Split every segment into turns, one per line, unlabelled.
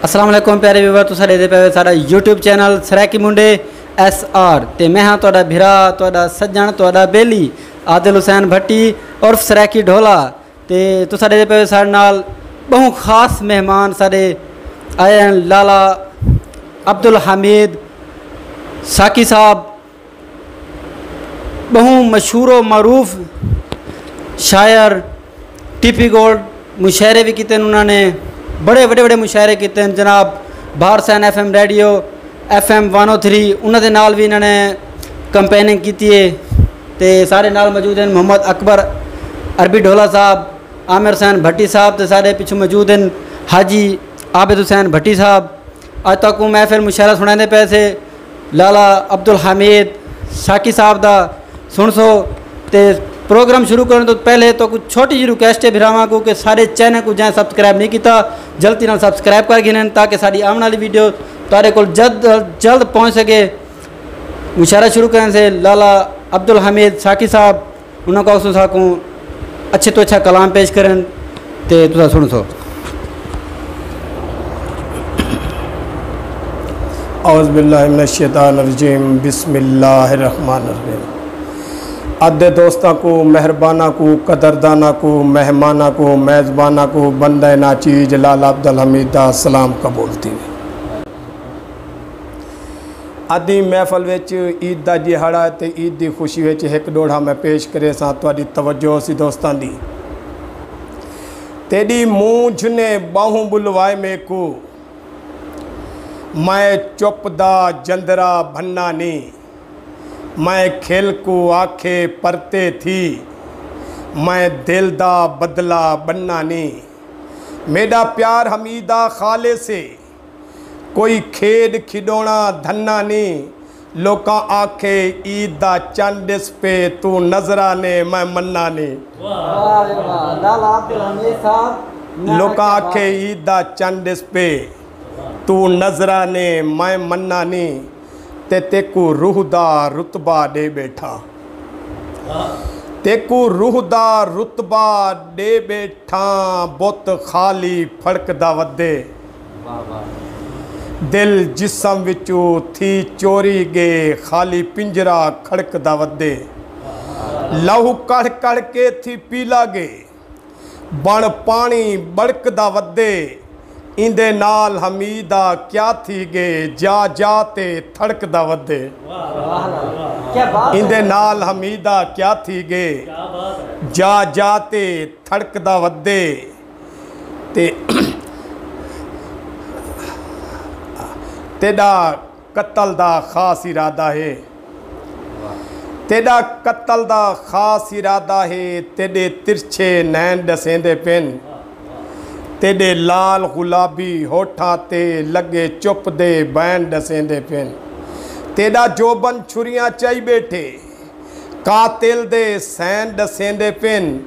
السلام علیکم پیارے ویور تو ساڑے دے پیوے ساڑا یوٹیوب چینل سریکی منڈے ایس آر تے میں ہاں توڑا بھرا توڑا سجن توڑا بیلی عادل حسین بھٹی اور سریکی ڈھولا تے تو ساڑے دے پیوے ساڑے نال بہن خاص مہمان ساڑے آئے ہیں لالا عبدالحمید ساکی صاحب ٻہوں مشہور و معروف شاعر ٹیپی گولڈ مشاعرے بھی کیتے ہیں انہاں نے بڑے وڈے وڈے مشاعرے کیتے ہیں جناب بھارت سین F M radio F M one O three انہاں دے نال بھی انہاں نے کمپیننگ کیتی ہے تے سارے نال موجود ہیں محمد اکبر عربی ڈھولا صاحب عامر حسین بھٹی صاحب تے سارے پچھوں موجود ہیں حاجی عابد حسین بھٹی صاحب اج تک اوں محفل مشاعرہ سنڑاندے پئے سے لالا عبدالحمید ساقی صاحب دا سنڑسو تے پروگرام شروع کرن تو پہلے تو کچھ چھوٹی جی ریکویسٹ ہے بھراواں کو کہ سارے چینل کو جائیں سبسکرائب نہیں کیتا جلدی نال سبسکرائب کر گھنن تاکہ ساری آون والی ویڈیو تارے کول جلد جلد پہنچ سکے مشاعرہ شروع کرن سے لالا عبدالحمید ساقی صاحب انہاں کوں آکھسوں ساکوں اچھے توں اچھا کلام پیش کرن تے تساں سنڑسو۔
اعوذ باللہ من الشیطان الرجیم بسم اللہ الرحمن الرحیم ادھے دوستاں کو مہرباناں کو قدرداناں کو مہماناں کو میزباناں کو بندہ ناچیز لالا عبدالحمید دا سلام قبول تھیوے۔ ادیں محفل وچ عید دا ڈیہاڑا اتے عید دی خوشی وچ ہک ڈوہڑا میں پیش کریساں تہاڈی توجہ ہوسی دوستاں دی۔ تیڈی مونجھ نے باہوں بلوائے میکو میں چپ دا جندرا بھنا نی میں کھل کو آکھے پرتے تھی میں دل دا بدلہ بننا نی میڈا پیار ہمیدا خالص ہے کوئی کھیݙ کھیݙوݨا دھنا نی لوکاں آکھے عید دا چن ݙس پے توں نظراں نے میں منا نی لوکاں آکھے عید دا چن ݙس پے توں نظراں نے میں منا نی تے تیکوں روح دا رتبہ ݙے ٻیٹھا تیکوں روح دا رتبہ ݙے ٻیٹھا بت خالی پھڑکدا ودے۔ دل جسم وچوں تھی چوری ڳے خالی پنجرہ کھڑکدا ودے لہو کڑھ کڑھ کے تھی پیلا ڳے بݨ پاݨی ٻڑکدا ودے ایندے نال حمید آ کیا تھی ڳے جا جا تے تھڑکدا ودے ایندے نال حمید آ کیا تھی ڳے جا جا تے تھڑکدا ودے۔ تیڈا قتل دا خاص ارادہ ہے تیڈا قتل دا خاص ارادہ ہے تیڈے ترچھے نین ڈسیندے پن تیڈے لال غلابی ہوٹھاں تے لگے چپ دے بین ڈسیندے پن تیڈا جوبن چھریاں چائی بیٹھے قاتل دے سین ݙسیندے پن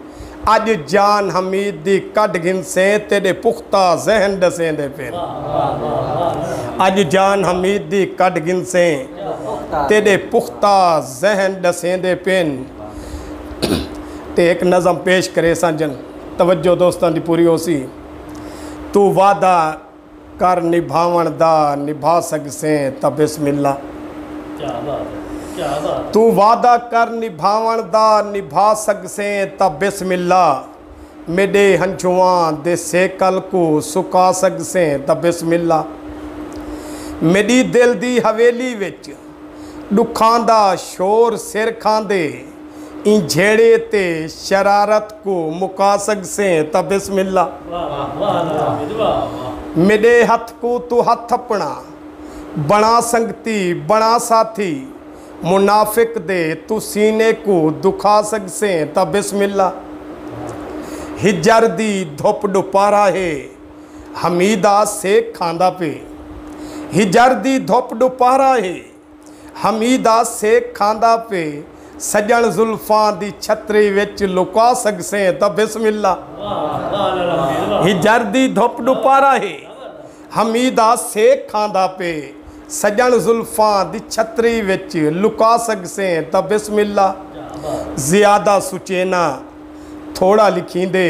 اڄ جان حمید دی کڈھ گھنسیں تیݙے پختہ ذہن ݙسیندے پن اڄ جان حمید دی کڈھ گھنسیں تیݙے پختہ ذہن ݙسیندے پن تے ہک نظم پیش کریساں جن توجہ دوستاں دی پوری ہوسی تو وعدہ کر نبھاوݨ دا نبھا سڳسیں تاں بسم اللہ۔ توں وعدہ کر نبھاوݨ دا نبھا سڳسیں تاں بسم اللہ۔ میݙے ہنجھواں دے سیکل کوں سکا سڳسیں تاں بسم اللہ۔ میݙی دل دی حویلی وچ۔ ݙکھاں دا شور سر کھاندے ایں جھیڑے تے شرارت کوں مکا سڳسیں تاں بسم اللہ میݙے ہتھ کوں توں ہتھ اپݨا بݨا سنگتی بݨا ساتھی منافق دے توں سینے کوں دکھا سڳسیں تاں بسم اللہ ہجر دی دھپ ݙوپہرا ہے حمیدہ سیک کھاندا پئے ہجر دی دھپ ݙوپہرا ہے حمیدہ سیک کھاندا پئے سڄݨ زلفاں دی چھتری وچ لکا سڳسیں تاں بسم اللہ ہجر دی دھپ ݙوپہرا ہے حمیدہ سیک کھاندا پئے سڄݨ زلفاں دی چھتری وچ لکا سڳسیں تاں بسم اللہ زیادہ سچیناں تھوڑا لکھیندے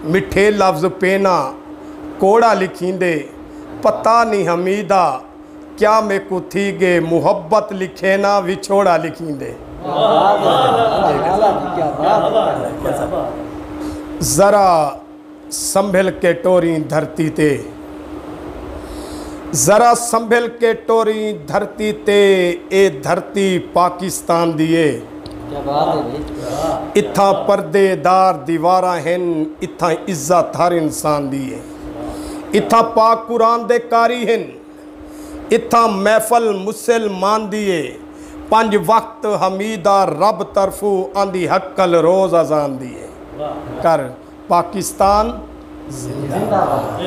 مٹھے لفظ پینا کوڑا لکھیندے پتہ نی حمیدہ کیا میکوں تھی گے محبت لکھینا وچھوڑا لکھیندے ذرا سنبھل کے ٹوریں دھرتی تے۔ ذرا سنبھل کے ٹوریں دھرتی تے اے دھرتی پاکستان دی اے۔ کیا بات ہے بھائی اتھاں پردے دار دیواراں ہن اتھاں عزت ہر انسان دی اے اتھاں پاک قرآن دے قاری ہن اتھاں محفل مسل مان دی اے پنج وقت حمیدہ رب طرفو آندی حقل روز اذان دی اے کر پاکستان زندہ باد۔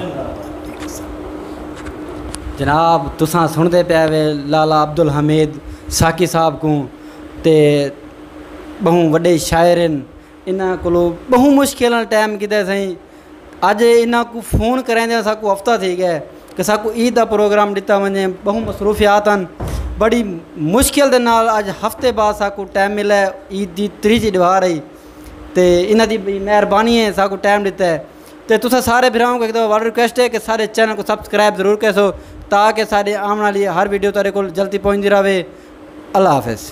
جناب تساں سنڑدے پئے وے لالا عبدالحمید ساقی صاحب کوں تے بہوں وڈے شاعر ہن انہاں کولو بہوں مشکل نال ٹائم کیتے سئیں اج انہاں کوں فون کریندے اساکوں ہفتہ تھی گئے کہ اساکوں عید دا پروگرام ڈتا ونجے بہوں مصروفیات ہن بڑی مشکل دے نال اج ہفتے بعد اساکوں ٹائم ملے عید دی تریجھی ڈوار ہئی تے انہاں دی مہربانی ہے ساکوں ٹائم ڈتا ہے تے تساں سارے بھراواں کوں ایک دفعہ وارڈ ریکویسٹ ہے کہ سارے چینل کو سبسکرائب ضرور کیسو تاکہ ساڈے آون والی ہر ویڈیو تہاڈے کول جلدی پہنچدی رہے اللہ حافظ